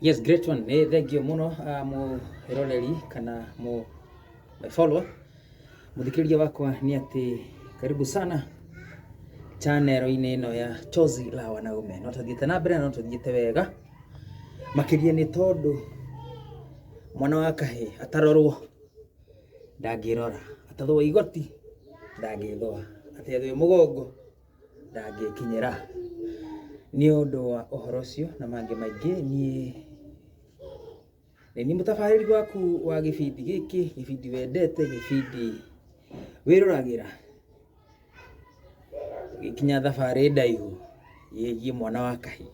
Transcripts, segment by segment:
Yes great one, nĩ thengiũ mũno mwĩroreri kana mũ my follower mũthikĩrĩria wakwa nĩ atĩ karibu sana chanero-inĩ ĩno ya Chozi la Wanaume. No tũthiĩte na mbere na no tũthiĩte wega makĩria nĩ tondũ mwana wa kahĩ atarorwo ndangĩrora, atathwo igoti ndangĩthwa, atethwo ĩ mũgongo ndangĩkinyĩra. Nĩ ũndũ wa ũhoro ũcio na mangĩ maingĩ niĩ nĩ niĩ mũtabarĩri waku wa gĩbindi gĩkĩ, gĩbindi wendete, gĩbindi wĩroragĩra gĩgĩkinya thabarĩ ndaihu yĩgiĩ mwana wa kahĩĩ.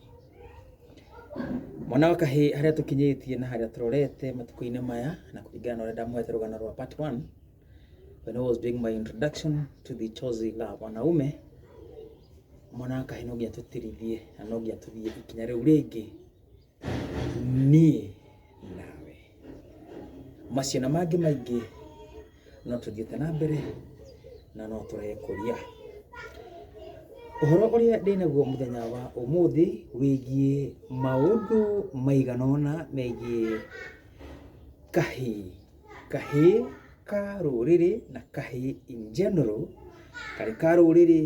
Mwana wa kahĩĩ harĩa tũkinyĩtie na harĩa tũrorete matukũ-inĩ maya na kũringana na ũrĩa ndamũhete rũgano rwa part one. When I was doing my introduction to the chozi la wanaume, mwanakahe no nginya tũtirithie na no nginya tũthiĩ ikinya rĩu rĩngĩ niĩ nawe macio na mangĩ maingĩ no tũthiĩte na mbere na no tũrekũria ũhoro ũrĩa ndĩ naguo mũthenya wa ũmũthĩ wĩgiĩ maũndũ maigana ũna megiĩ kahĩĩ kahĩĩ ka rũrĩrĩ na kahĩĩ in general, karĩ ka rũrĩrĩ,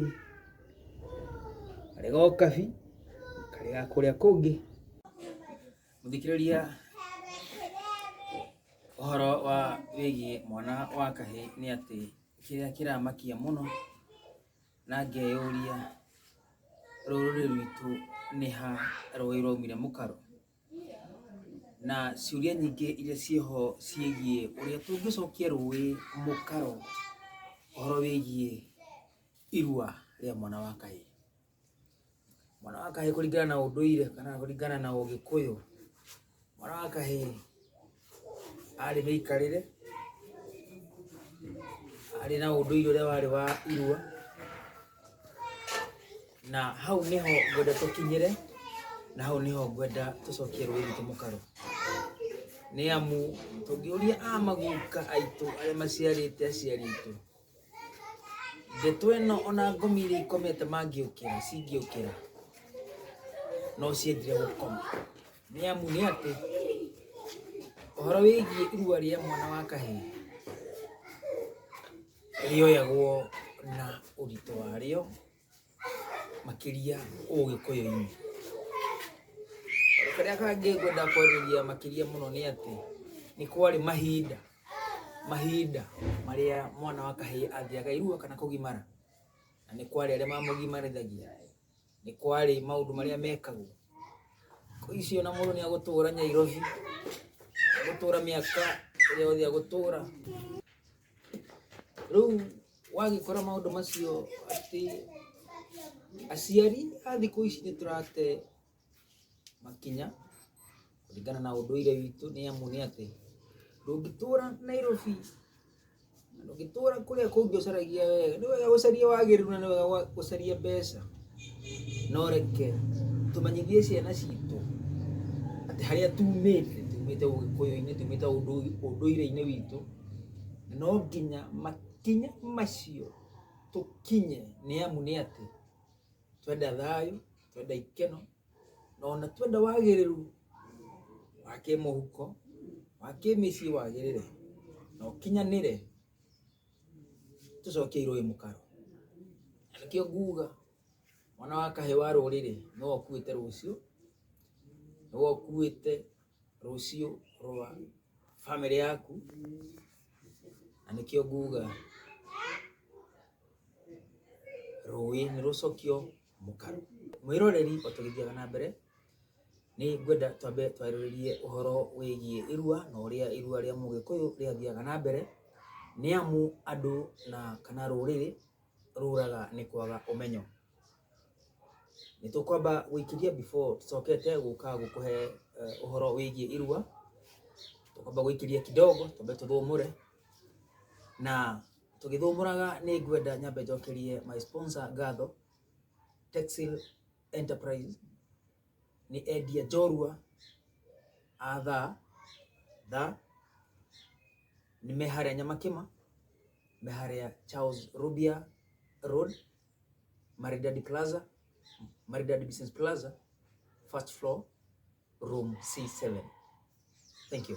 karĩ ga ũkabi, karĩ ga kũrĩa kũngĩ. Mũthikĩrĩria ũhoro wa wĩgiĩ mwana wa kahĩĩ nĩ atĩ kĩrĩa kĩramakia mũno na ngeyũria rũrĩrĩ rwitũ nĩ ha rũĩ rwaumire mũkaro? na ciũria nyingĩ iria ciĩho ciĩgiĩ ũrĩa tũngĩcokia rũĩ mũkaro ũhoro wĩgiĩ irua rĩa mwana wa kahĩ. Mwana wa kahĩ kũringana na ũndũire kana kũringana na ũgĩkũyũ, mwana wa kahĩ arĩ mĩikarĩre arĩ na ũndũire ũrĩa warĩ wa irua na hau nĩho ngwenda tũkinyĩre na hau nĩho ngwenda tũcokie rũĩ rwitũ mũkaro nĩ amu tũngĩũria a maguka aitũ arĩa maciarĩte aciari aitũ Ndeto ĩno ona ngũmi iria ikomete mangĩũkĩra cingĩũkĩra no ciendire gũkoma nĩ amu nĩ atĩ ũhoro wĩgiĩ irua rĩa mwana wa kahĩĩ rĩoyagwo na ũritũ warĩo makĩria ũgĩkũyũ-inĩ karĩa kangĩ ngwenda kwarĩria makĩria mũno nĩ atĩ nĩ kwarĩ mahinda mahinda marĩa mwana wa kahĩĩ athiaga irua kana kũgimara na nĩ kwarĩ arĩa mamũgimarithagia nĩ kwarĩ maũndũ marĩa mekagwo icio na mũndũ nĩ agũtũra nyairobi agũtũra mĩaka ĩrĩa yothe agũtũra rĩu wagĩkora maũndũ macio atĩ aciari a thikũ ici nĩ tũrate makinya kũringana na ũndũire witũ nĩ amu nĩ atĩ ndũngĩtũra Nairobi na ndũngĩtũra kũrĩa kũngĩ ũcaragia wega nĩ wega gũcaria wagĩrĩru na nĩ wega gũcaria mbeca. no reke tũmenyithie ciana citũ atĩ harĩa tumĩte tumĩte ũgĩkũyũ-inĩ tumĩte ũndũ- ũndũire-inĩ witũ no nginya makinya macio tũkinye nĩ amu nĩ atĩ twenda thayũ twenda ikeno na ona twenda wagĩrĩru wa kĩmũhuko wa kĩmĩciĩ wagĩrĩre na ũkinyanĩre tũcoke irũĩ mũkaro na nĩkĩo nguga mwana wa kahĩ wa rũrĩrĩ nĩwe ũkuĩte rũciũ nĩwe ũkuĩte rũciũ rwa bamĩrĩ yaku na nĩkĩo nguga rũĩ nĩ rũcokio mũkaru. Mwĩroreri o tũgĩthiaga na mbere, nĩ ngwenda twambe twarĩrĩrie ũhoro wĩgiĩ irua na ũrĩa irua rĩa Mũgĩkũyũ rĩathiaga na mbere, nĩ amu andũ na kana rũrĩrĩ rũraga nĩ kwaga ũmenyo. Nĩ tũkwamba gũikĩria before tũcokete gũka gũkũhe ũhoro wĩgiĩ irua, tũkwamba gũikĩria kidogo twambe tũthũmũre na... Tũgĩthũmũraga nĩ ngwenda nyambe njokerie my sponsor ngatho Texil Enterprise nĩ endia njorua a tha tha nĩ me harĩa Nyamakĩma me harĩa Charles Rubia Road Maridadi Plaza Maridadi Business Plaza first floor room C7 thank you